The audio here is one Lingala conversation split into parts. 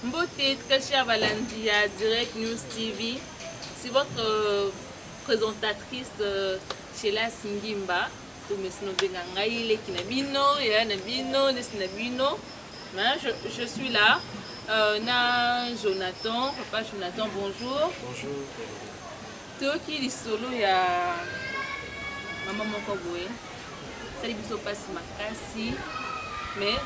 Mbote, très chers balandi ya Direct News TV, c'est votre euh, présentatrice euh, Shelas Ngimba, oyo mesi nobenga ngai leki na bino, yaya na bino, nesi na bino. Mais je, je suis là. Euh, na Jonathan, papa Jonathan, bonjour. Bonjour. Toki lisolo ya mama moko boye. Sali biso pasi makasi. Mais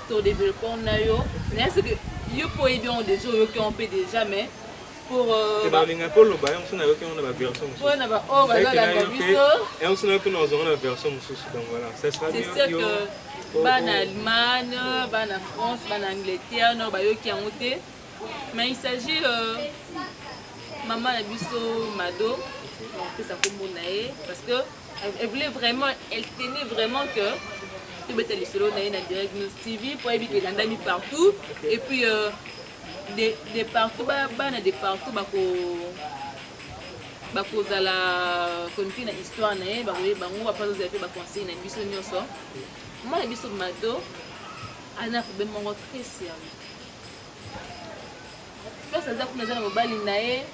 to développons na yo. Mais est-ce que yo po ebi on déjà oyoki on pe déjà mais balingaka mpe oloba yango mosusu nayoki yango na baversion mosusu na baoyo oh, bazalaka biso yango mosusu nayoki na ozongo na version mosusu donc voilà ça sera bien yo oh, bana oh. allemagne bana france bana angleterre nao bayoki yango te mais il s'agit euh, mama na biso mado opesa nkombo na ye parce que elle voulait vraiment elle tenait vraiment que tobeta lisolo na ye na direct news tv mpo ayebi ke elandami partout et puis euh, de, de partout ba bana de partout bako bakozala konfi na histoire na ye bakoye bango bapa tozala mpe baconseil na biso nyonso mwa na biso mado ana problème moko très sérieux place aza kuna aza na mobali na ye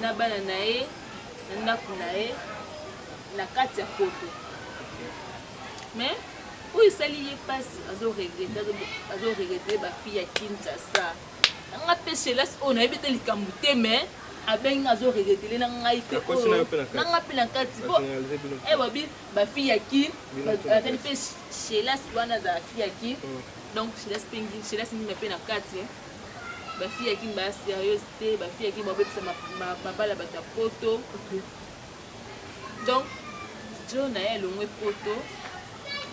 na bana na ye na ndako na ye na kati ya poto mais oyo esali ye mpasi azo regrete azo regrete bafille ya kinshasa nanga mpe shelas oyo nayebi te likambo te mais abengi azo regretele na ngai te oyo nanga mpe na kati po ewabi bafille ya kin azali mpe shelas wana azala fille ya kin oh. donc shelas mpe shelas ndima mpe na kati bafille ya kin baya serieuse te bafille ya kin babebisa mabala bato ya poto donc djo na ye alongwe poto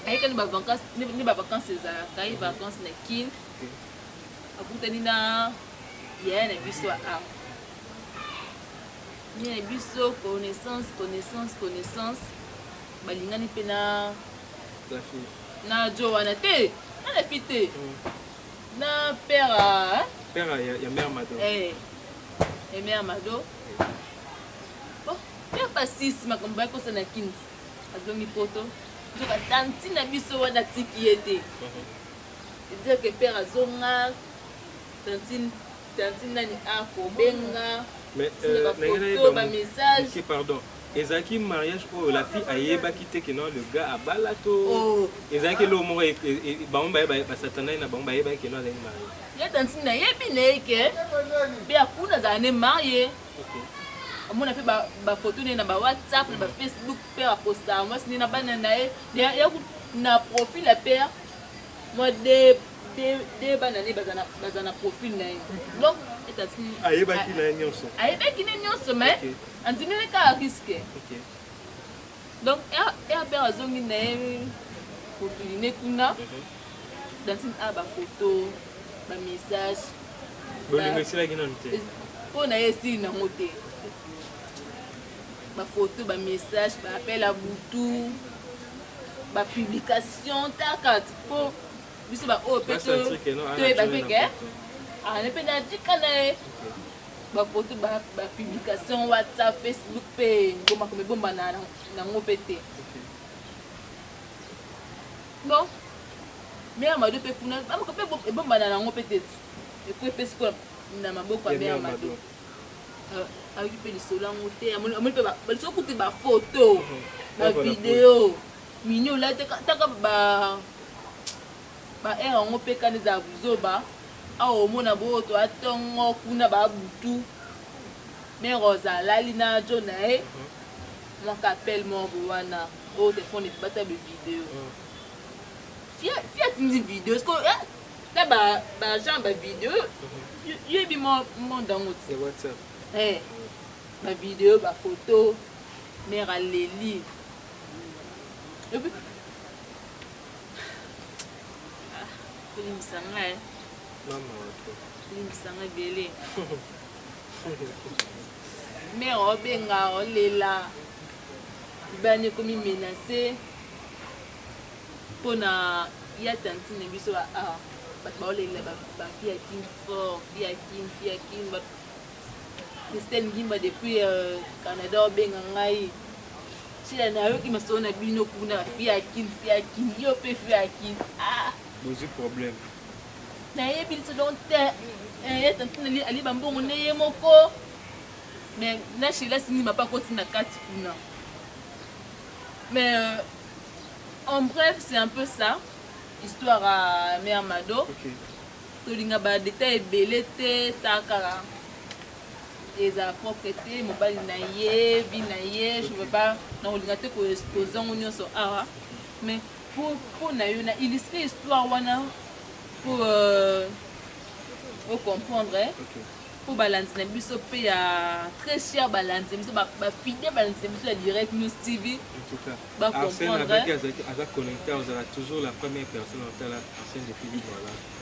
ayeke nde bavacance nde bavacance ezalaka ye vacance na kin akutani na yaya na biso aa ye na biso connaissance connaissance connaissance balingani mpe na na djo wana te na na fi te mm. na père père ya mère mado eh, ya mère mado Oh, ya basisi makambo bakosa na kini azongi poto nzoka tanti na biso wana atiki ye te dire que père azonga tantine tantine nani akobenga bafoto bamessage pardon ezalaki mariage oyo la fille ayebaki te ke non le gars abala to oh. ezalaki eloko moko e, e, e, bango baye basatanai na bango bayebaki ke non azalaki marie ye tantine nayebi na ye ke mpe akuna azala ne marie amona mpe bafoto naye na bawhatsapp na bafacebook mpe aposta mwasi nde na bana na ye na profil ya pere mwa de bana ne baza na profil na ye donc ayebaki na ye nyonso ayebaki ne nyonso mai andimeli kaka riske Donc RPR azongi na ye mokili ne kuna Dantine a ba photo ba message bolingo esilaki nanu te mpo na ye esili nango te bafoto bamessage baappel ya butu bapublication takati mpo biso baoyo mpe toyebaki ke aane mpe natika na ye ba photo ba ba publication WhatsApp Facebook pe ngoma comme bomba na na ngo pe te bon mère Mado pe kuna ba ko pe bomba na ngo pe te eko pe sikola na maboko ya mère Mado euh, ayoki mpe lisolo yango te amoni mpe lisolo kutu bafoto bavideo mini olataka taka ba Ba heure yango pe kanda ezala buzoba awa omona bo oto a tongo kuna ba butu mère rosa alali na djo naye mua ka appel moko boye wana oyo telephone ebata be video fille atindi video siko eh ta ba ba genre ba video yebi mo monde yango ti eh ba video ba photo mère aleli et puis Limbisa nga eh. Mama wato. Limbisa nga ebele. Mère obenga olela. Bani ekomi menase mpo na ya tantine biso ba ah, bato baolelela bafi ya kin fort fi ya kin fi ya kin christelle ngimba depuis euh, canada obenga ngai Sila na yoki masolo na bino kuna fia kin fia kin yo pe fia kin ah bozi problème na ye bin se donc te eh tantine ali ali bambongo ne ye moko mais na Sheila sini mapa koti na kati kuna mais euh, en bref c'est un peu ça histoire à mère Mado okay. tolinga ba détails ebele te takala eza propre te mobali na ye vie na ye je veux pas nakolinga te koexpose yango nyonso awa mais mpo na yo na illustre histoire wana mpo euh, ocomprendre eh? okay. mpo balandi na biso mpe ya très cher balandi na biso bafide balandi na biso ya direct news tv bacomprendre aza connecte ozala toujours la première personne otala arsène de philipe voilà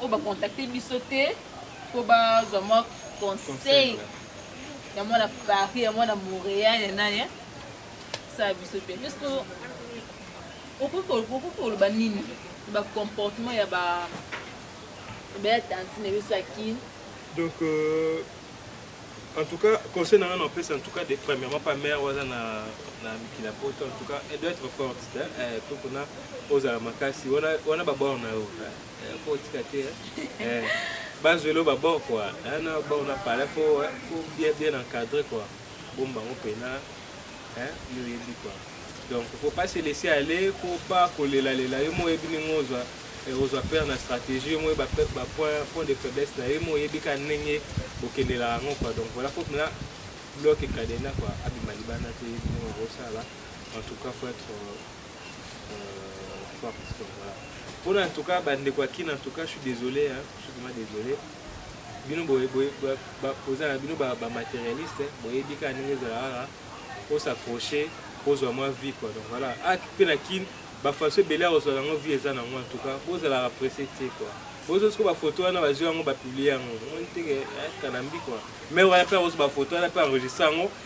oyo ba contacter biso te po bazwa mwa conseil ya mwana paris ya mwana montréal ya nani sala biso te puisque okoki koloba nini ba comportement ya ba baya tantine biso ya kin donc euh... en tout cas conseil nanga na opesa en tout cas de premièrement pa mère wana na na miki na poto en tout cas elle doit être forte po kuna ozala makasi wana wana babor na yo Faut tika te. Eh. Bazwelo ba bord quoi. Hein, na bord na parler faut faut bien bien encadrer quoi. Bomba ngo pena. Hein, yo yebi quoi. Donc faut pas se laisser aller, faut pas kolela lela yo moyebi ningo ozwa ozwa père na stratégie yo moyeba ba point point de faiblesse na yo moyebi ka ndenge bokendelaka yango quoi. Donc voilà faut na bloc ekadena quoi abima libanda te yebi ningo okosala. En tout cas faut être Pour en tout cas, bah, de quoi qui en tout cas, je suis désolé, hein, je suis vraiment désolé. bino boza na bino bamaterialiste boyebi kaka ndenge ezalaka kaka osapproche kozwa mwa vie quoi donc voilà ak ah, mpe na kin bafaso ebele ya kozwala yango vie eza nango en tout cas bozalaka presse te quoi bozo siko bafoto wana bazwi yango bapiblie yango omoni teke eh, kanambi kua mai wana mpe akozwa bafoto wana mpe enregistre yango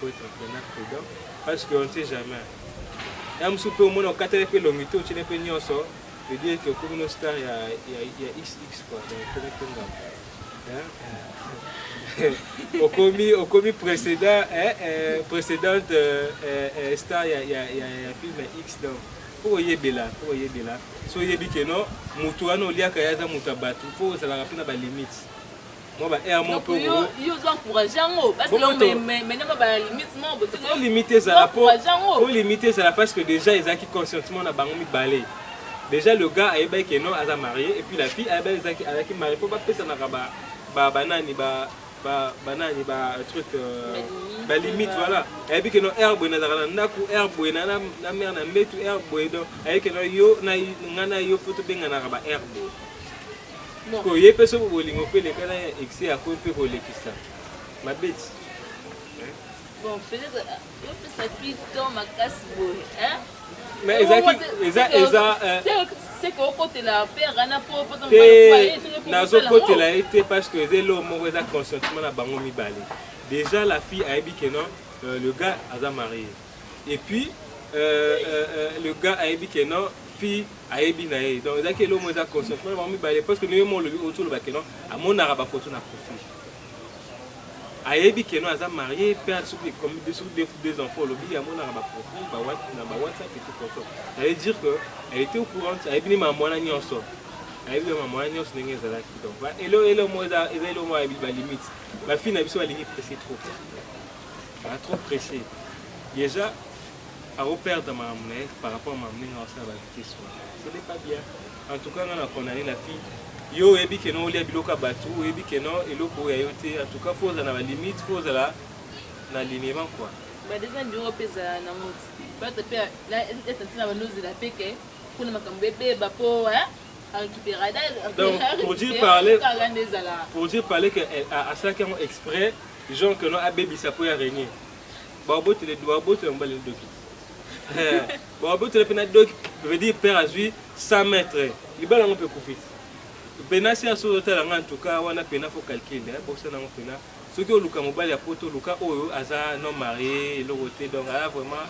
faut être vraiment prudent parce que on ne sait jamais ya mosusu mpe omona okateli mpe elongi te otyeli mpe nyonso vedire ke okomi no star ya, ya, ya xx kua donc okomi mpe ngambo okomi okomi précédent eh, eh, précédente euh, eh, eh, star ya, ya, ya, ya film ya x donc mpo koyebela mpo koyebela so oyebi ke no motu wana oliaka ye aza motu ya bato mpo ozalaka mpe na balimite Moi ba air mon peu. Yo yo zo encourager yango parce que mais mais mais na ba limite mon bo. Faut limiter ça la peau. Faut limiter ça parce que déjà ils acquis conscientement na bango mi balé. Déjà le gars ayeba que non aza marié et puis la fille ayeba ezaki ayaki marié faut pas pesa na ba ba banani ba ba banani ba truc euh, ba limite voilà ayebi que non air boye nazaka na ndako air boye na na mère na mbetu air boye donc ayebi que non yo na nga na yo faut tobenganaka ba air boye Ko ye pe soko bolingo pe leka na excès ya ko pe ko lekisa. Mabeti. Bon, peut-être yo pe sa pi temps makasi boye, hein? Mais ezaki eza eza c'est que okotela père ana po po to te nazo kotela ye te parce que eza eloko moko eza consentement na bango mibale déjà la fille ayebi que non euh, le gars aza marié et puis euh, euh, euh, le gars ayebi que non fille ayebi na ye donc ezalaki eloko moko eza conscience mpo na bango mibale parce que ndenge mo olobi oyo toloba keno amonaka bafoto na profil ayebi keno aza marie mpe soki deux enfants olobi amonaka baprofil na bawhatsapp et tout conso ça veut dire que elle était au courant ayebi ni mamwana nyonso ayebi mamwana nyonso ndenge ezalaki donc eloko eloko moko eza eloko moko ayebi balimite bafille na biso balingi presse trop Ba trop pressé. Déjà ako perdre makambo na ye par rapport à makambo ndenge aosala ba vitesse wana. Ce n'est pas bien. En tout cas nga na condamner la fille. Yo oyebi que non olia biloko ya bato, oyebi que non eloko oyo ya yo te. En tout cas faut ozala na ba limite, faut ozala na alignement quoi. Ba déjà ndiro pe zala na moti. Bata pe la eta tina ba nozela pe ke kuna makambo ebeba po hein. Donc, pour dire parler, pour dire parler que asalaki yango exprès Jean keno abebisa po ya Rene. Babotele babotela mobali na doki. Babotela pe na doki veut dire père azui 100 mètres. Libala ngo pe kufi. Pena si aso otala nga en tout cas wana pena faut calcul eh bosana ngo pena. Soki oluka mobali ya poto luka oyo aza non marié eloko te donc ah vraiment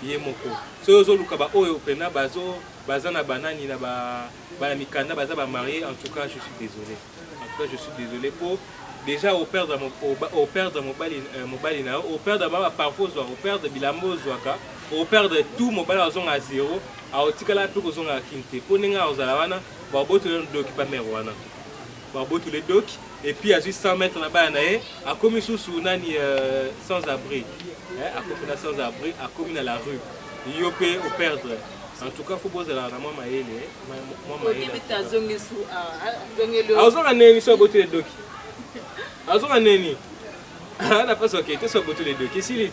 ye moko. Soki ozo luka ba oyo pena bazo baza na banani na ba bana mikanda baza ba marié en tout cas je suis désolé. En tout cas je suis desole po dejà operdre operdre mobali euh, mobali na yo operdre baba parfois ozwa operdre bilamba ozwaka operdre tout mobali azonga zero aotikala mpe kozongaka kin te mpo ndenge akozala wana babotole doki pa mare wana babotole doki epuis azwi 100 mètre na bana na ye akomi susu nani euh, sans abri akomi na sans abri akomi na la rue yo mpe operdre en tout cas fo bozalaka na mwa mayele azoka neni so abotuli edoki azoka neni ana mpasi oke te so abotuli edoki esili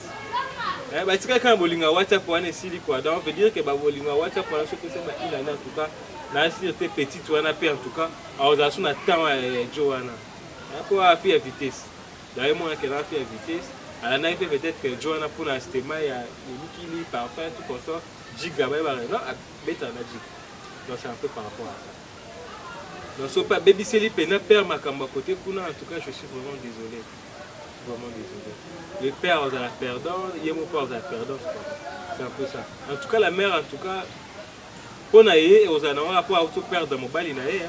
eh, batika kaka bolinga whatsapp wana esili kua donc veut dire ke babolinga whatsapp wana soki ose bailani en tout cas naasir te petite wana mpe en tout cas aozala so na temps ya jo wana mpo eh, afi ya vitesse daye mwana kena afi ya vitesse alandaki mpe peut-être que jo wana mpona stema ya elikili parfum tout consort jigla bayebaka non beta na jiki donc c'est un peu par rapport à ça donc soki mpe abebiseli mpena père makambo ya kote kuna en tout cas je suis vraiment désolé vraiment désolé le père azala perdant ye mo mpe azala perdant c'est un peu ça en tout cas la mère en tout cas mpo na ye ekozala na wana mpo auto perdre mobali na ye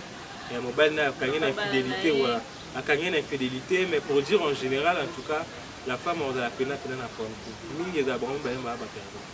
ya mobali na ye akangi na infidélité voilà akangi na infidélité mais pour dire en général en tout cas la femme azala mpena mpena na problème mingi ezala bango mibale maa baperdant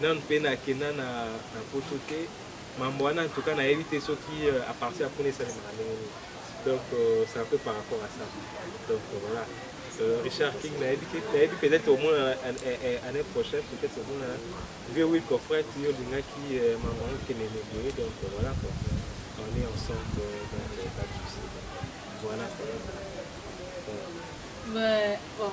Nanu pe na kenda na na poto te mambo wana en tout cas nayebi te soki euh, à partir ya kuna esalemaka ndenge nini donc euh, c'est un peu par rapport à ça donc euh, voilà euh, Richard King nayebi te nayebi peut-être omona année prochaine peut-être omona vieux Will Coffret yo olingaki euh, mambo yango kende boye donc euh, voilà quoi on est ensemble euh, dans le pas de souci voilà quoi. Voilà. Mais bon.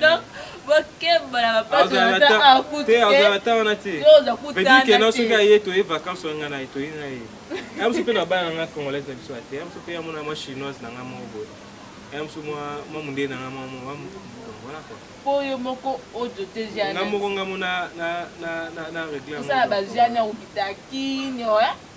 donc bokeba na bapasakutana soki aye toye vacance oyo ngai naye toye na ye ya mosu mpe na bana nanga congolaise na biso ya te ya mosu mpe ya mona mwa chinoise na ngai moko boye ya mosu mwa mondele na ngai mwa voilà quoi mpo yo moko ojo te jane ngai moko ngai mona na regle osala bajane okita kinio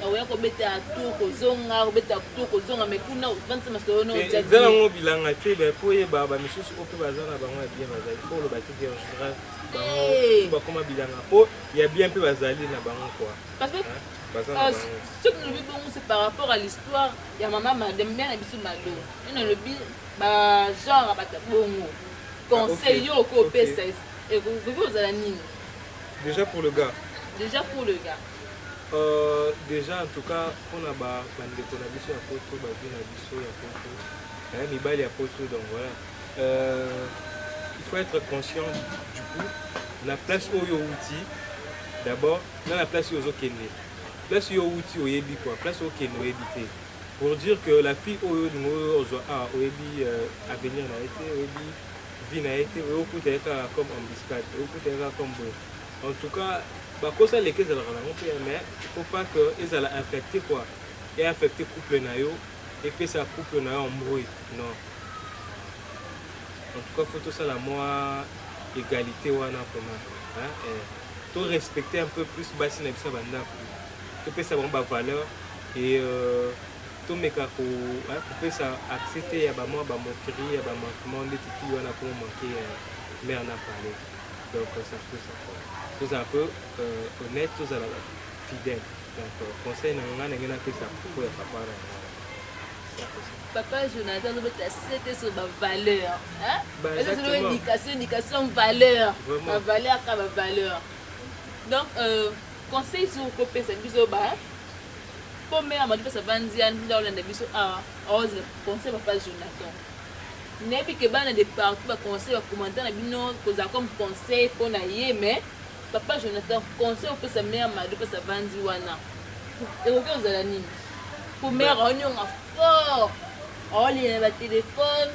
Nakoya kobeta tour kozonga kobeta tour kozonga mais kuna ofandisa masolo na oja eza nango bilanga te ba po oyeba bamisusu oyo mpe baza na bango ya bien bazali po oloba te ke engeneral bango eh. bakoma bilanga po ya bien mpe bazali na bango kua parce que baza na euh, bango soki nalobi bongo c'est par rapport à l'histoire ya mama made mia na biso mado nde nalobi bagenre bata bongo ah, conseil yo okopesa ekoki kozala nini déjà pour le gars déjà pour le gars Euh dejà en tout cas pona ba ndeko na biso ya poto ba vie na biso ya poto eh, mibali ya poto donc voilà euh, il faut être conscient du coup na place oyo outi d'abord na na place oyo ozokende place oyo outi oyebi quoi place okende oyebi te pour dire que la fille oyo olingi oyo ozwa awa ah, oyebi euh, avenir na ye te oyebi vie na ye te oyokuta ye kaka comme embuscade oyokuta ye kaka comme boye En tout cas, bakosa leki ezalaka na yango mpe mais il faut pas que ezala infecte quoi e infecte couple na yo epesa couple na yo embrouille non en tout cas faut tosala mwa égalité wana vraiment hein eh. to respecter un peu plus basi na biso ya bandako topesa bango bavaleur et euh, tomeka kopesa accès te ya bamwa bamoquerie ya bamanquement ndeti ti wana koma manke ya mare na palais Donc euh, ça peut ça quoi. Tous un peu euh, honnête, tous à la fidèle. Donc euh, conseil na ngana ngena pesa pour ya papa na ngana. Ça peut ça. papa jonathan azobeta sete so bavaleur Bah, ezozolo exactement. indication indication valeur Vraiment. bavaleur ka bavaleur donc euh, conseil soki okopesa biso ba po mera madi pesa banzia nda olanda biso awa aozela conseil papa jonathan Nayebi que bana de partout ba conseil ba commentaire na bino kozala comme conseil pona ye mais papa Jonathan conseil opesa mère Mado place avandi wana ekoki kozala nini? Po mère aonionga fort aolela na ba telephone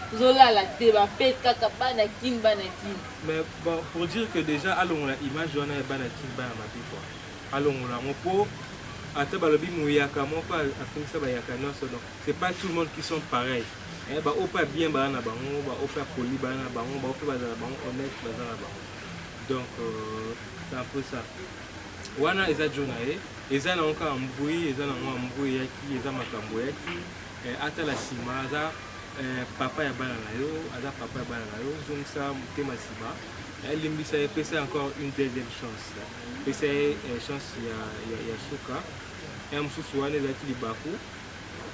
tozolala te ba pe kaka bana kin bana kin. Mais bon pour dire que dejà alongola image wana ya bana kin bana mabe quoi alongola yango po ata balobi muyaka moko afingisa bayaka nionso donc C'est pas tout le monde qui sont pareil. Eh, ba opa ya bien bana na bango, ba opa ya poli bana na bango, ba opa bazala bango honnête baza na bango. Donc euh, c'est un peu ça. Wana eza jo na ye, eza na nka mbui, eza na nka mbui yaki, eza makambo yaki. Eh, ata la sima aza eh, papa ya bana na yo, aza papa ya bana na yo, zongisa motema sima. Elimbisa ye, pesa encore une deuxième chance. Pesa ye eh, chance ya, ya, ya suka. Ya mosusu wana ezalaki libaku.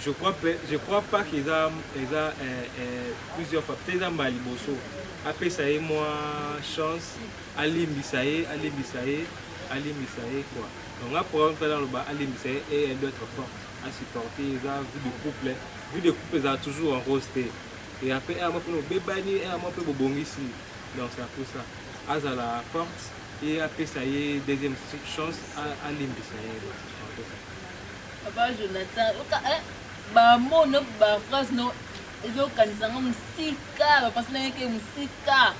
Je crois pe, je crois pas qu'eza eza eh, eh, plusieurs fois peut-être eza mbala liboso apesa ye mwa chance alimbisa ye alimbisa ye alimbisa ye quoi donc nga programme tala aloba alimbisa ye et elle doit être forte à supporter eza vie de couple vie de couple ezala toujours en rose te et après eh, mwa mpe obebani eh, mwa mpe bobongisi donc c'est un peu ça azala forte et apesa ye deuxième chance alimbisa ye Papa Jonathan, oka eh ba mots no ba phrases no ezo kanisa nga musika ba pensée na yeke musika.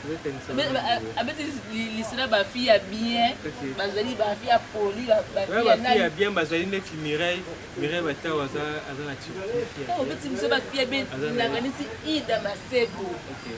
Abeti lisela ba fille ya bien, bazali ba fille ya poli, ba fille ya nani. Ya bien bazali neti Mireille, Mireille Batao aza aza na Turquie. Obeti biso ba fille ya bien, nakanisi Ida Masebo. Okay.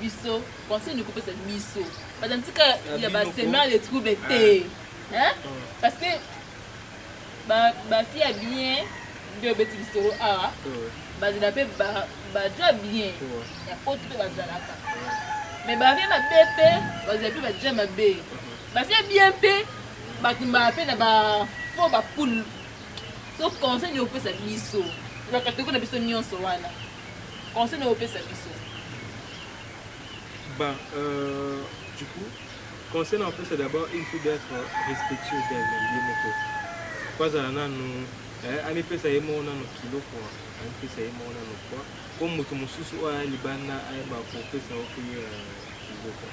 biso conseil ni kopesa biso baza ntika ya ba semeur de trouble te ah. hein parce que ba ba fille ya bien nde obeti lisolo awa bazala mpe baja bien ya poto mpe bazalaka mais bavie mabe mpe bazala mpe baja mabe bafie bien mpe batumbaka mpe na bafo bapoule so conseil ni kopesa biso bakatoko na biso nyonso wana Conseil nini opesa biso? Bah, euh, du coup, conseil na opesa d'abord, il faut d'être respectueux d'elle, ye moko. Faut azala nanu, eh, amipesa ye moko nanu kilo kwa, amipesa ye moko nanu kwa. Ko moto mosusu oyo aya libanda ayeba kopesa yo pe euh, kilo kwa.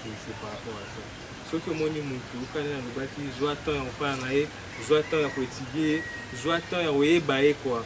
C'est c'est par rapport à ça. soki omoni motu okani nalobaki zwa temps ya kofana na ye zwa temps ya koetidie ye zwa temps ya koyeba ye kwa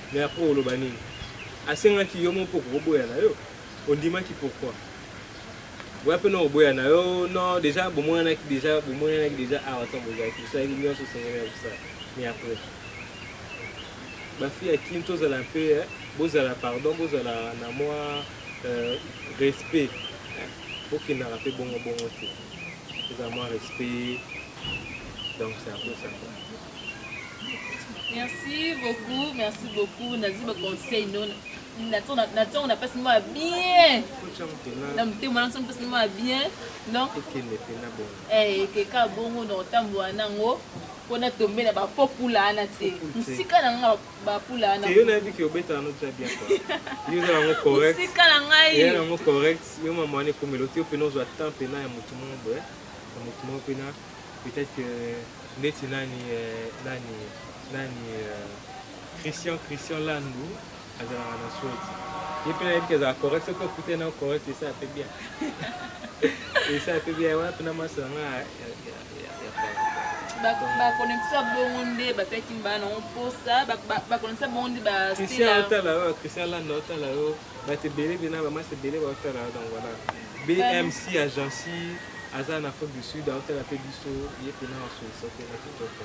Mais après oloba nini? Asengaki yo moko poko oboya na yo? Ondimaki pourquoi? Boya pe no oboya na yo non dejà bomonanaki dejà bomonanaki dejà awa ntango bozalaki bosalaki nyonso osengeli ya kosala mais après bafille ya kin tozala mpe eh, bozala pardon bozala na mwa euh, respect eh, bokendaka mpe bongo bongo te tozala mwa respect donc c'est un peu ça Merci beaucoup, merci beaucoup. Nazi ba conseil non. Na tona na tona na pasi moi bien. Na mte mwana tona pasi moi bien. Donc ekende pe na bongo. Eh keka bongo na otambo anango. Pona tombe na ba popula ana te. Musika na nga ba pula ana. Yo na biki obeta no très bien quoi. Yo na ngo correct. Musika na ngai. Yo na ngo correct. Yo mama ne komelo te pe no zo temps pe na ya mutu mo boye. Mutu mo pe na peut-être que ndeti nani euh, nani nani euh, christian christian landu azalaka na sweti ye mpe nayebi kezala correct soki okute na correct esa ape bien esa ape bien wana mpena maso yanga bakonekisa bongo nde bapeti mbana yango mposa bakonekisa bongo nde bacristian otala yo cristian landa otala yo Bato ebele mpe na bamasi ebele baotala yo donc voilà. BMC agence aza na Afrique du Sud aotala mpe biso ye mpe na basolisa mpe na kitoko.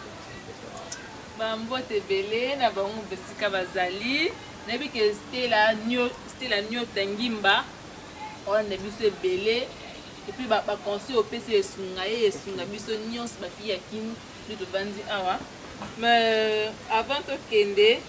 bambote ebele na bango moto esika bazali nayebi ke stela niota ngimba wana na biso ebele epuis baconseil opesi esunga ye esunga biso nyonso bafi ya kini nde tofandi awa mais avant tokende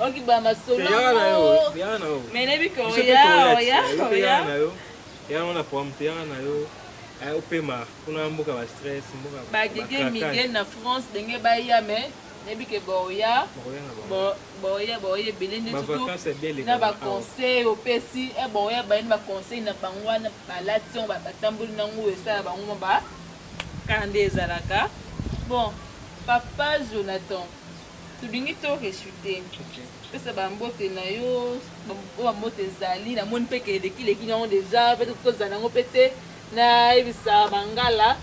okibwa masolo yaka na yo yaka na yo mais nayebi ke oya oya oya na yo yaka na programme te yaka na yo eh, opema kuna mboka ba stress mboka bagege mige na france ndenge baya mais nayebi ke boya boya boya ebele nde surtout na baconseil opesi e eh, boya bayini baconseil na bango wana balati yango batamboli nango esala bango ma ba kanda ezalaka bon papa jonathan Tolingi to rechuter. Pesa ba mbote na yo, oyo ba mbote ezali. Na moni pe ke eleki leki na yango dejà, pe to kosa na yango pe te. Na yebisa Mangala,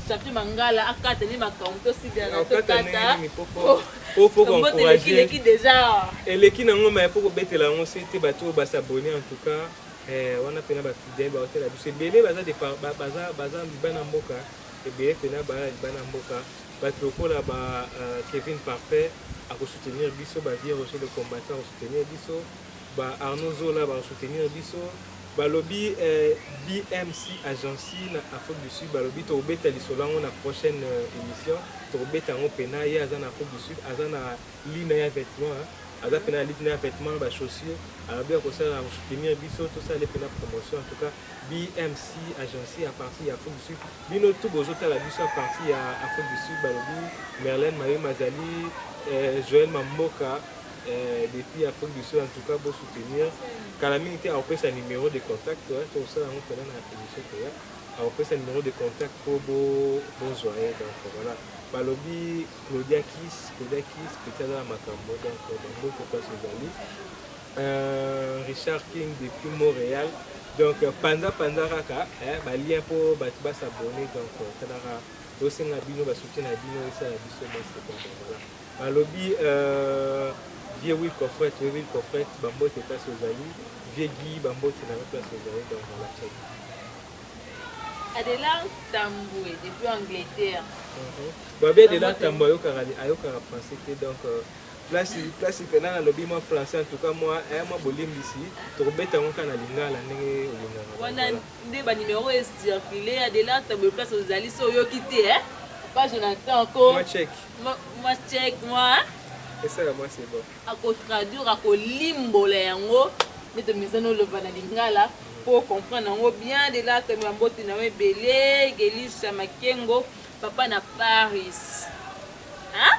champion Mangala a kata nde makambo to signala to kata. Po faut ko encourager. Eleki leki dejà. Eleki na yango mais faut ko betela yango se te batu oyo ba s'abonner en tout cas. Eh, wana pena ba fidèles ba hotela biso ebele baza de baza baza libana mboka ebele pena ba libana mboka. Batu lokola ba Kevin Parfait ako soutenir biso, ba Vieux Roger le combattant ako soutenir biso, ba Arnaud Zola bako soutenir biso. Balobi eh, BMC Agency na Afrique du Sud balobi tokobeta lisolo yango na prochaine euh, emission, tokobeta yango pena. Ye aza na Afrique du Sud, aza na ligne ya vêtement, aza pena na ligne ya vêtement, ba chaussures, alobi akosala akosoutenir biso, tosala pena promotion en tout cas. BMC agence à partir ya Afrique du Sud bino tout bozo tala biso à partir ya Afrique du Sud balobi Merlène Mayo Mazali euh, Joël Mamboka euh, depuis Afrique du Sud en tout cas bo soutenir kala mingi te akopesa numéro de contact tokosala yango mpena na émission koya akopesa numéro de contact mpo bozwa ye donc voilà balobi Claudia Kiss Claudia Kiss petit aza na makambo donc bango kokasi ezali Euh, Richard King depuis Montréal. Donc euh, panza panza kaka eh, ba lien po batu ba s'abonner donc euh, talaka tosenga bino ba soutien na bino esala biso basi donc voilà. Balobi euh, vieux oui coffret, oui oui coffret, bambote place ozali, vieux Guy bambote na place ozali donc voilà check. Adela Tambwe depuis Angleterre. Mhm. Bon, bien Adela Tambwe ayokaka ayokaka français te donc euh, Place place pena na lobi mwa français en tout cas mwa eh mwa bolimbisi tokobeta yango kaka na lingala ndenge olingaka. Wana nde ba numéro e circule ya de là table place ozali so oyoki te eh pas Jonathan ko mwa check mwa check mwa esala mwa c'est bon ako traduire ako limbola yango nde tomizana oloba na lingala po comprendre yango bien de là table ya mbote na yo ebele Gelisha Makengo papa na Paris hein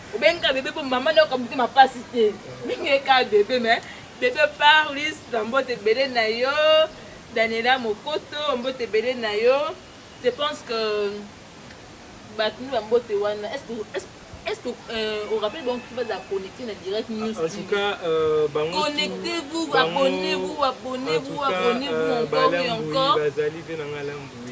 obengi ka bebe po mama nayo kabuki mapasi te mingi ka bebe me bebe parlis na mbote ebele na yo daniela mokoto mbote ebele na yo je pense que bato nde bambote wana est-ce que euh, au rappel donc tu vas la connecter na direct ah, news en tout cas euh, bango connectez-vous abonnez-vous abonnez-vous abonnez-vous euh, encore et encore bazali pe na ngalambu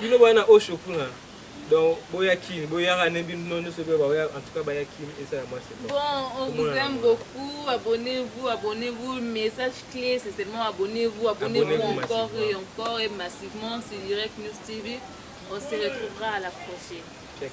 bino boya na osho kuna donc boya kin boyaka ne bino nyonso mpe baoya en tout cas baya kin eza ya mwasi bon on vous aime beaucoup abonnez-vous abonnez-vous message clé c'est seulement abonnez-vous abonnez-vous encore et encore et massivement c'est direct news tv on se retrouvera à la prochaine Check.